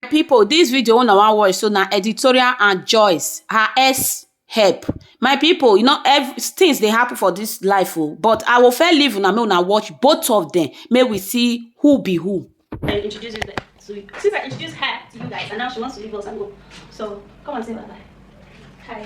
people this video una wan watch so na editorial and joyce her ex help my people you know every things dey happen for this life o but i will fair leave una make una watch both of them make we see who be who. I introduce you guys. So you, since I introduced her to you guys, and now she wants to leave us and go. So come and say bye bye. Hi.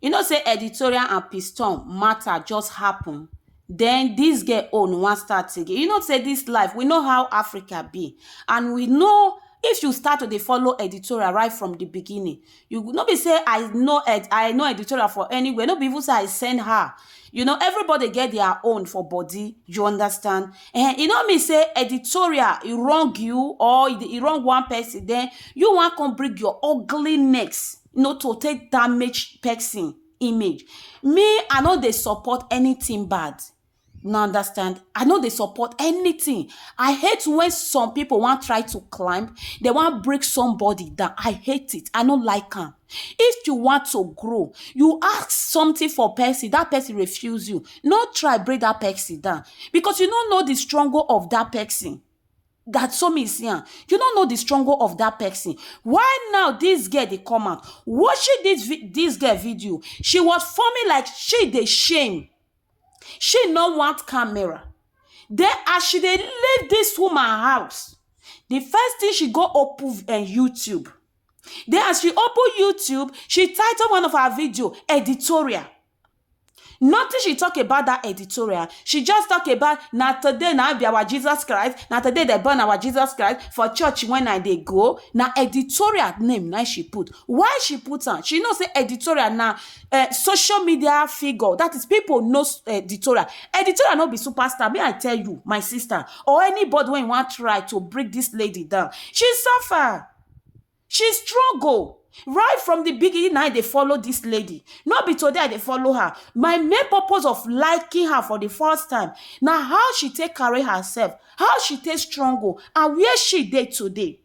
You know say editorial and piston matter just happen then this girl own wan start again. You know say this life, we know how Africa be and we know if you start to dey follow editorial right from the beginning, you go- no be say I know ed, I know editorial for anywhere, no be even say I send her. You know everybody get their own for body, you understand? Eh, e no mean say editorial e wrong you or e dey- e wrong one person then you wan come bring your ugly necks you know, to take damage person image. Me, I no dey support anything bad. Now understand? I no dey support anything. I hate when some people want try to climb, they want break somebody down. I hate it. I no like am. If you want to grow, you ask something for person, that person refuse you. No try break that person down because you no know the struggle of that person. that so me see am you no know the struggle of that person why now this girl dey come out watching this vi- this girl video she was forming like she dey shame she no want camera then as she dey leave this woman house the first thing she go open uh, youtube then as she open youtube she title one of her video editorial Nothing she talk about that editorial. She just talk about na today na be our Jesus Christ, na today they born our Jesus Christ for church when I dey go. Na editorial name na she put. Why she put am? She know say editorial na uh, social media figure. That is people know editorial. Editorial no be superstar. May I tell you, my sister, or anybody when you want try to break this lady down. She suffer. she struggle right from the beginning i dey follow this lady no be today i dey follow her my main purpose of liking her for the first time na how she take carry herself how she take struggle and where she dey today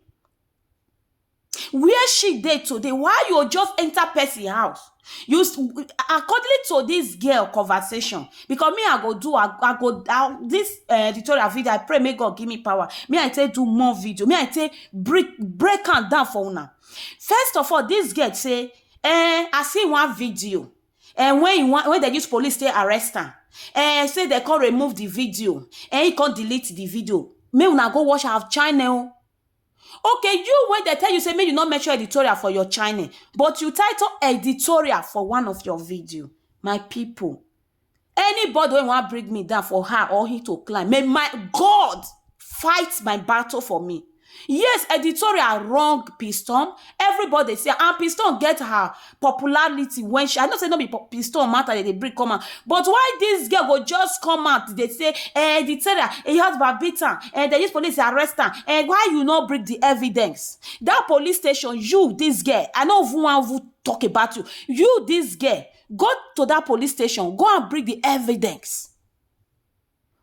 where she dey today why you just enter person house you s- according to this girl conversation because me i go do i, I go I, this uh, tutorial video i pray make god give me power me i take do more video me i take break break am down for una first of all this girl say eh i see one video and when you want when they use police take arrest am eh say they come remove the video and he come delete the video make una go watch her channel Okay, you wey dey tell you say make you no mention editorial for your channel, but you title editorial for one of your video. My pipu, anybody wey wan bring me down for her or he to climb, may my God fight my battle for me. Yes, editorial wrong Piston, everybody say am and Piston get her popularity when she i know say no be po- piston matter they dey bring come out but why this girl go just come out dey say eh the terror eh your husband beat am eh they use police arrest am eh why you no bring the evidence that police station you this girl i no even wan even talk about you you this girl go to that police station go and bring the evidence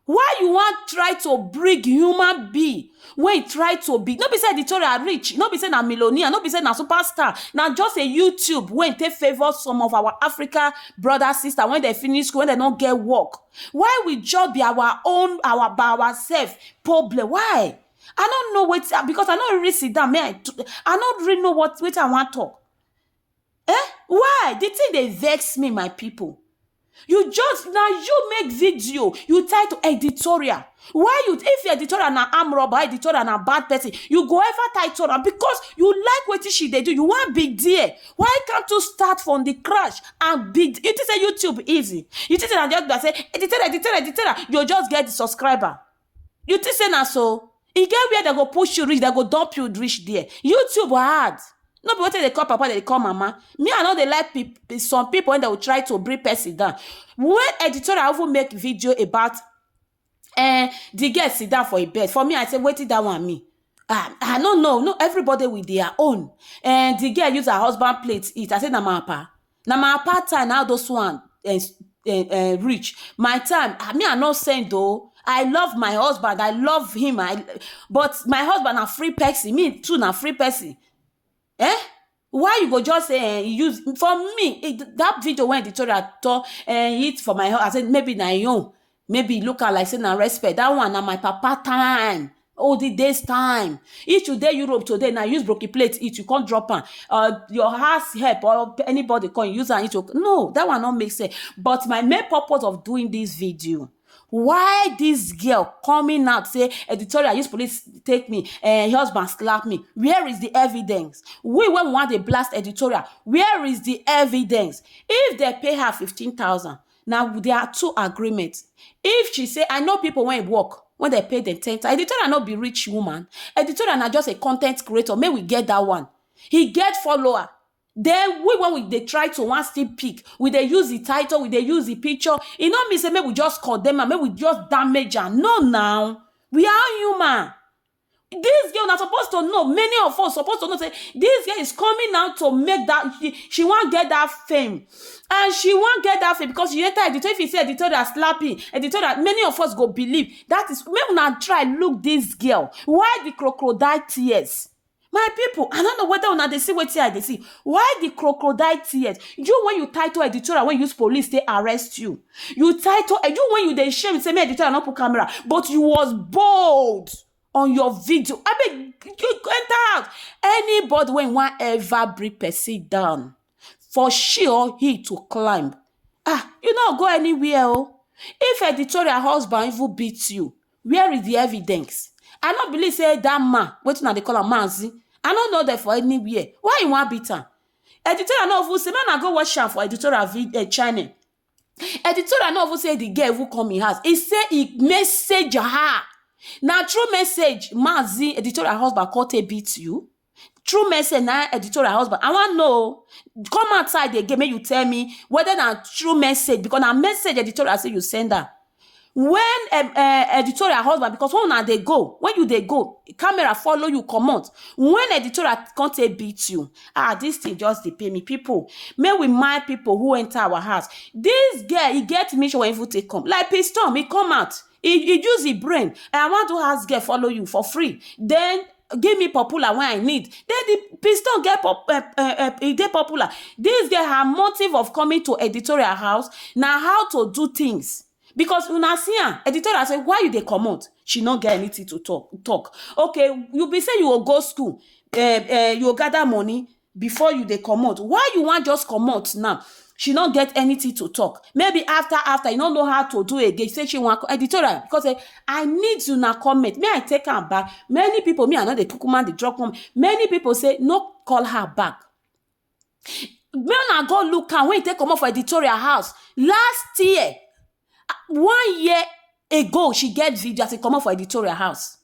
Why you wan try to bring human being wey try to be no be say editorial rich no be say na millionaire no be say na superstar na just a youtube wey take favour some of our africa brother sister when dem finish school when dem no get work why we just be our own our by ourself problem why i no know wetin because i no really sit down me i i no really know what wetin i wan talk Eh why the thing dey vex me my people you just na you make video you title editorial why you if your editorial na arm robber editorial na bad person you go ever title am because you like wetin she dey do you wan be there why can't you start from the crash and be you think say YouTube easy you think say na just be like say editorial editorial editorial you just get the subscriber You think say na so? E get where dem go push you reach, dem go dump you reach there. YouTube hard. No be wetin dem dey call papa, dem dey call mama. Me, I no dey like peop- some people when they will try to bring person down. When editorial even make video about eh, the girl sit down for a bed. For me, I say, waiting that one me. Ah, I no know. No, everybody with their own. And the girl use her husband plate eat. I say, na my papa. na my apartheid time na those one um um reach my time ah me I no send oh I love my husband I love him I but my husband na free person me too na free person um why you go just say um use for me that video wey Victoria too um hit for my own I say maybe na him own maybe e look am like sey na respect dat one na my papa time olden days time if you dey Europe today now you use broken plate eat you come drop am or your house help or anybody come use am eat oh no dat one no make sense but my main purpose of doing dis video why dis girl coming out sey editorial use police take me um husband slap me where is the evidence we wey we wan dey blast editorial where is the evidence if dem pay her fifteen thousand na with dia two agreement if she say I know pipu wey work wey dem pay dem ten thousand editorial no be rich woman editorial na just a con ten t creator make we get dat one e get follower den we wen we dey try to wan still pick we dey use di title we dey use di picture e no mean say make we just condemn am make we just damage am no na we are all human. This girl na suppose to know, many of us suppose to know say this girl is coming out to make that, she, she wan get that fame. And she wan get that fame because she enter editorial, if you see editorial slapping, editorial, many of us go believe. That is, make una try look this girl. Why the crocodile tears? My people, I don't know whether una dey see wetin I dey see. Why the crocodile tears? You when you title editorial, when you use police, they arrest you. You title and you when you dey shame say me editor I no put camera, but you was bold on your video. I mean, you enter out. Anybody when want ever bring person down, for she or he to climb. Ah, you no go anywhere. Oh. If editorial husband even beat you, where is the evidence? I no believe say that man, wetin I dey call am manzi. I no know them for anywhere. Why you want beat am? Editorial no even say make una go watch am for editorial vid um channel. Editorial no even say the girl even come im house, e say e message her. Na through message Mazi editorial husband come take beat you? Through message na editorial husband, I wan know o, come outside again make you tell me whether na through message because na message editorial say you send am. Wen um um editorial husband because wen una dey go, wen you dey go camera follow you comot, wen editorial come take beat you ah dis tin just dey pain me, pipu make we mind pipu who enter our house, dis girl e get mission wey e even take come like pistom e come out e use e brain I wan do house girl follow you for free den give me popular when I need. Then the piston get pop, uh, uh, uh, e dey popular. This girl, her motive of coming to editorial house na how to do things. Because una see am, editorial say, why you dey comot? She no get anything to talk. talk. Okay, you be say you go go school, uh, uh, you go gather money, before you dey comot why you wan just comot now she no get anything to talk maybe after after you no know how to do again say she wan editorial because say i need una comment may i take am back many people me i no dey kukuma dey drop one many people say no call her back make una go look am when e take comot for editorial house last year one year ago she get video as e comot for editorial house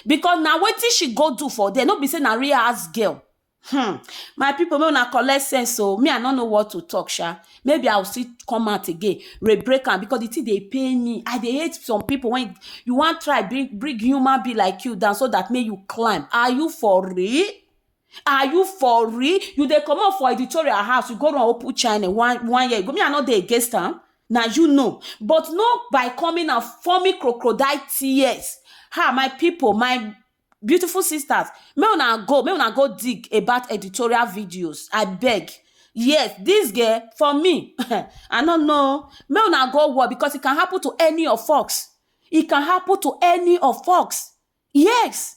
because na wetin she go do for there no be say na real house girl hmm my people make una collect sense o me i no know what to talk sha maybe i will still come out again re break am because the thing dey pain me i dey hate some people when you wan try bring bring human be like you down so that make you climb are you for real are you for real you dey comot for editorial house you go run open channel one one year ago me i no dey against am na you know but not by coming and forming crocodile tears ha my people my beautiful sisters make una go make una go dig about editorial videos i beg yes this girl for me i no know make una go war because it can happen to any of us it can happen to any of us yes